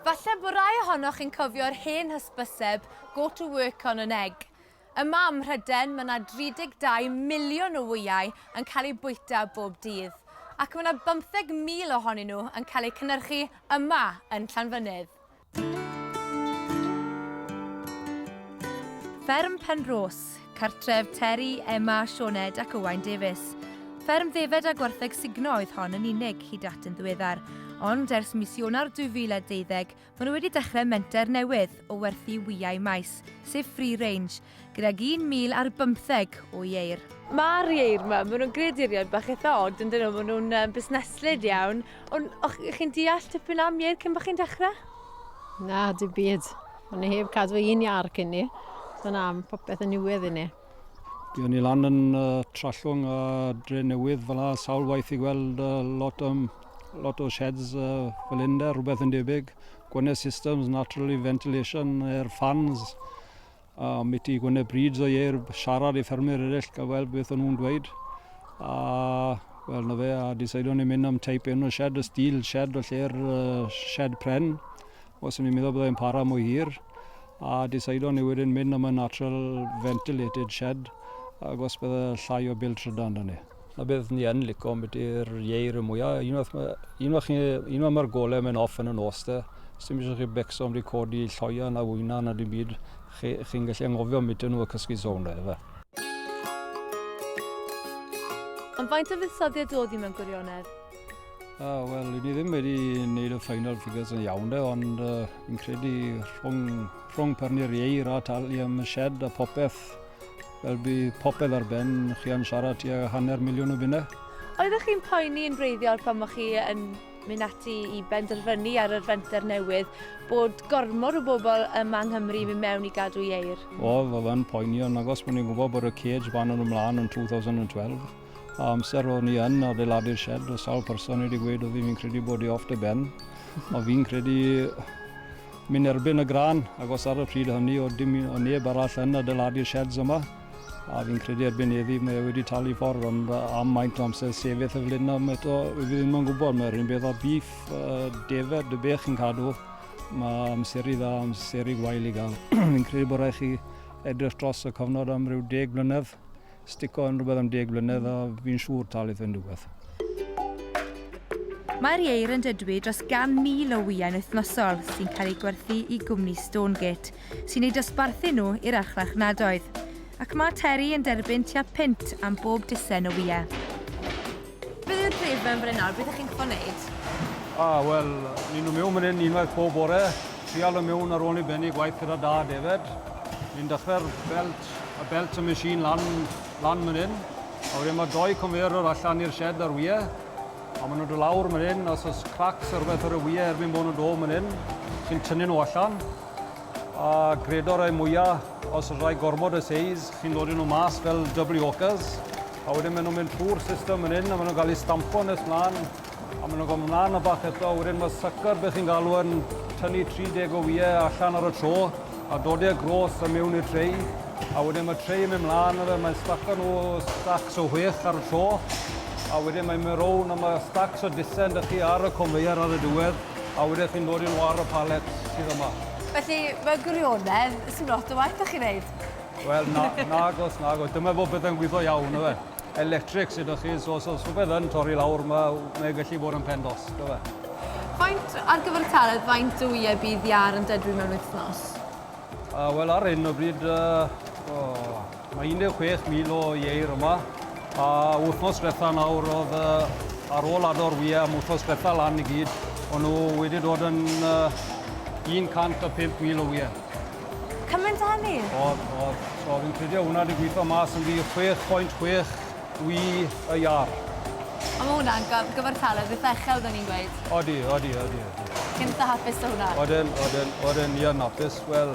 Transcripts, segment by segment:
Falle bo rai ohonoch yn cofio'r hen hysbyseb go to work on an egg. Yma ym Mhryden mae yna 32 miliwn o wyau yn cael eu bwyta bob dydd, ac mae yna 15,000 ohonyn nhw yn cael eu cynhyrchu yma yn Llanfynydd. Fferm Penrhos Cartref Terry, Emma, Sioned ac Owain Davies. Fferm ddefed a gwartheg sugno oedd hon yn unig hyd at yn ddiweddar, ond ers mis Ionawr 2012 maen nhw wedi dechrau menter newydd o werthu wyau maes, sef free range, gydag 1,000 ar bymtheg o ieir. Mae'r ieir yma, maen nhw'n greaduriaid bach eitha od yn dyn nhw, maen nhw'n um, busneslyd iawn. Ond o'ch chi'n deall tipyn am ieir cyn bod chi'n dechrau? Na, dim byd. O'n i heb cadw un iar cyn ni. So na, mae popeth yn niwedd i ni. Dwi o'n i lan yn uh, Trallwng a Dre Newydd fel yna sawl waith i gweld uh, lot, um, lot o sheds uh, fel hyn de, rhywbeth yn debyg. Gwne systems, naturally ventilation, air fans, a mi ti gwne brids o ieir siarad i ffermwyr eraill gael weld beth o'n nhw'n dweud. A wel na fe, a diseidion ni mynd am teip un o shed, y stil shed o lle'r uh, shed pren. Os o'n i'n meddwl byddai'n para mwy hir, a decidon ni wedyn mynd am y natural ventilated shed, ac os bydde llai o bil trydan da ni. Na beth ni yn lico am ydy'r ieir y mwyaf. Un o'r, un o'r, un o'r mae'r golem yn off yn y nos da. Sdim eisiau chi becso am di codi lloia na wyna na dim byd. Chi'n chi, chi gallu angofio am bita nhw a cysgu sôn da, efe. Ond faint o fuddsoddiad oedd hi mewn gwirionedd? Ah, Wel, i ni ddim wedi gwneud y final figures yn iawn de, ond uh, fi'n credu rhwng, rhwng parni'r ieir a talu am y shed a popeth, fel bu popeth ar ben, chi yn siarad tua hanner miliwn o bunnau. Oeddech chi'n poeni yn breiddiol pan o'ch chi yn mynd ati i benderfynu ar yr fenter newydd bod gormod o bobl yma yng Nghymru yn mynd mewn i gadw ieir? Oedd, oedd yn poeni, ond agos bod ni'n gwybod bod y cage fan yn ymlaen yn 2012. A amser o'n i yn adeiladu'r shed, o sawl person wedi gweud oedd fi'n credu bod i off dy ben. o fi'n credu mynd erbyn y gran, ac os ar y pryd hynny o dim o neb arall yn adeiladu'r sheds yma, a fi'n credu erbyn heddi mae e wedi talu ffordd, ond am maint o amser sefyll y flin am eto, fi ddim yn gwybod, mae'r un beth o bif, uh, defed, dy bech yn cadw, mae amser i dda, amser i gwael i gael. fi'n credu bod rhaid chi edrych dros y cyfnod am rhyw deg blynedd, Stico yn rhywbeth am deg blynedd a fi'n siŵr talu yn rhywbeth. Mae'r ieir yn dydwy dros 100,000 o wyau'n wythnosol sy'n cael eu gwerthu i gwmni Stonegate, sy'n eu dosbarthu nhw i'r archfarchnadoedd. Ac mae Terry yn derbyn tua punt am bob dusen o wyau. Beth yw'r prif benbleth nawr? Beth ych chi'n gorfod wneud? O, wel, ni'n nhw mewn mynd unwaith pob bore, trial y mewn ar ôl ni bennu gwaith gyda da David. Ni'n dechrau'r belt, y belt y machine lan, lan mynd hyn. A wedyn mae doi conveyor allan i'r shed ar wyau. A maen nhw'n dod lawr mynd hyn, os oes cracks ar beth ar y wyau erbyn bod nhw'n dod mynd hyn, chi'n tynnu nhw allan. A gredo rai mwya, os rai gormod y seis, chi'n dod i nhw mas fel double hawkers, a wedyn maen nhw'n mynd trwy'r system yn hyn, a maen nhw'n cael eu stampo nes mlaen, a maen nhw'n cael mlaen y bach eto, a wedyn mae sucker beth chi'n galw yn tynnu 30 o wyau allan ar y tro, a dod e gros a mewn i'r tray, a wedyn mae tray yn mynd mlaen a fe, mae'n staco nhw stacks o chwech ar y tro, a wedyn mae'n mynd rownd a mae stacks o disen da chi ar y conveyor ar y diwedd. A wedyn chi'n dod i'r waro pallet sydd yma. Felly, mewn gwirionedd, sdim lot o waith 'da chi'n neud? Wel, na, nagos, nagos. Dyma fo bydde'n gwitho iawn, yfe. Electric sy 'da chi, so os oes rhywbeth yn torri lawr, ma' mae e gallu bod yn pen dos, dyfe. Faint, ar gyfer y pallet, faint o wyau bydd iâr yn dedfryd mewn wythnos? Wel, ar hyn o bryd, yy, o, Mae 16,000 o ieir yma, a wythnos diwetha nawr oedd uh, ar ôl ador wyau am wythnos diwetha lan i gyd, o'n nhw wedi dod yn uh, 105,000 o wyau. Cymaint o hynny? Oedd, oedd. So fi'n credu hwnna wedi gweithio mas yn fi 6.6 wy y iar. Ond mae hwnna'n gyfartaledd eitha uchel, da ni'n gweud. Odi, odi, odi. odi. Chi'n eitha hapus o hwnna? Oden, oden, oden, ni yn hapus. Wel,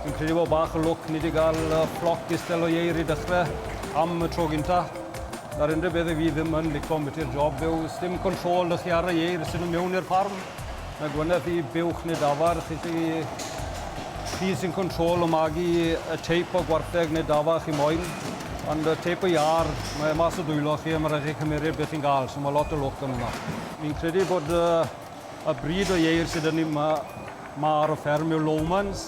Dwi'n credu bod bach o lwc ni 'di gael floc distel o ieir i dechrau am y tro gynta. Na'r unrhyw beth i fi ddim yn lico ambiti'r job yw sdim control 'da chi ar y ieir sy'n mynd mewn i'r ffarm. Mae gwyneth i buwch neu dafarn, chi sy chi sy'n control o magu y teip o gwartheg neu dafa chi moyn. Ond y teip o iâr, mae mas o dwylo chi a mae rhaid chi cymeryd beth chi'n gael, so mae lot o lwc yn hwnna. Fi'n credu bod Y bryd o ieir sydd yn ni, mae, mae ar y fferm yw Lowmans,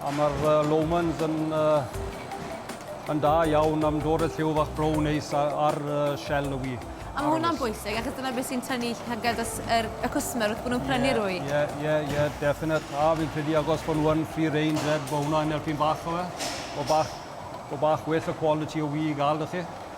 a mae'r uh, Lowmans yn, uh, yn da iawn am dod y lliw fach brown neis ar uh, shell y wy. A mae hwnna'n bwysig, achos dyna beth sy'n tynnu llygad yr, y cwsmer wrth bod nhw'n prynu'r yeah, wy. Ie, yeah, ie, yeah, ie, yeah, definite. A fi'n credu agos bod nhw'n free range, red, bod hwnna'n helpu'n bach o fe. O bach, o bach well y quality o wy i gael, ydych chi?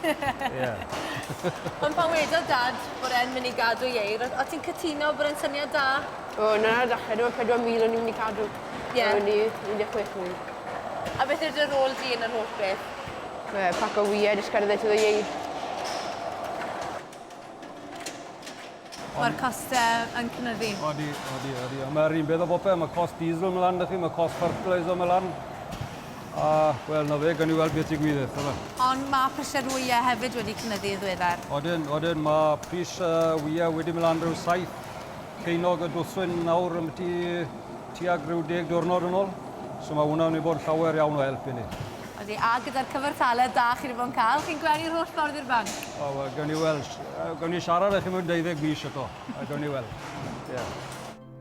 Yeah. Ond pan wedodd Dad bod e'n mynd i gadw Ieir, o- o't ti'n cytuno bod e'n syniad da? O, 'na ar y dechre do, 4,000 o'n i'n mynd i cadw. Ie. A wn i, 16,000. A beth yw dy rôl di yn yr holl beth? Yy, paco wyed, jyst cerdded trwyddo Ieir. Mae'r costau yn cynyddu. Odi, odi, odi. Ond mae'r un peth o bopeth. Mae cost diesel yn mynd lan 'da chi, mae cost fertiliser yn mynd lan. A, wel, na fe, gawn ni weld beth digwydd, dyma. Ond mae prisiau'r wyau hefyd wedi cynyddu yn ddiweddar. Odyn, odyn. Mae pris y wyau wedi mynd lan rhyw saith ceinog y dwsin nawr ambyti tuag rhyw deg diwrnod yn ôl. So mae hwnna'n mynd i bod yn llawer iawn o help i ni. Odi, a gyda'r cyfartaledd da chi wedi bod yn cael, chi'n gwely'r holl ffordd i'r banc? O, wel, gawn ni weld. Gawn ni siarad â chi mewn deuddeg mis eto, a gawn ni weld. Ie.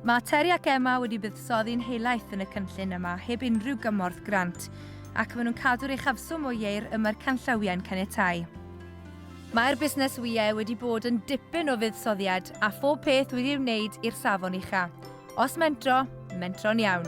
Mae Terry ac Emma wedi buddsoddi'n helaeth yn y cynllun yma heb unrhyw gymorth grant, ac maen nhw'n cadw'r uchafswm o ieir y mae'r canllawiau'n caniatáu. Mae'r busnes wyau wedi bod yn dipyn o fuddsoddiad, a phob peth wedi ei wneud i'r safon ucha'. Os mentro, mentro'n iawn.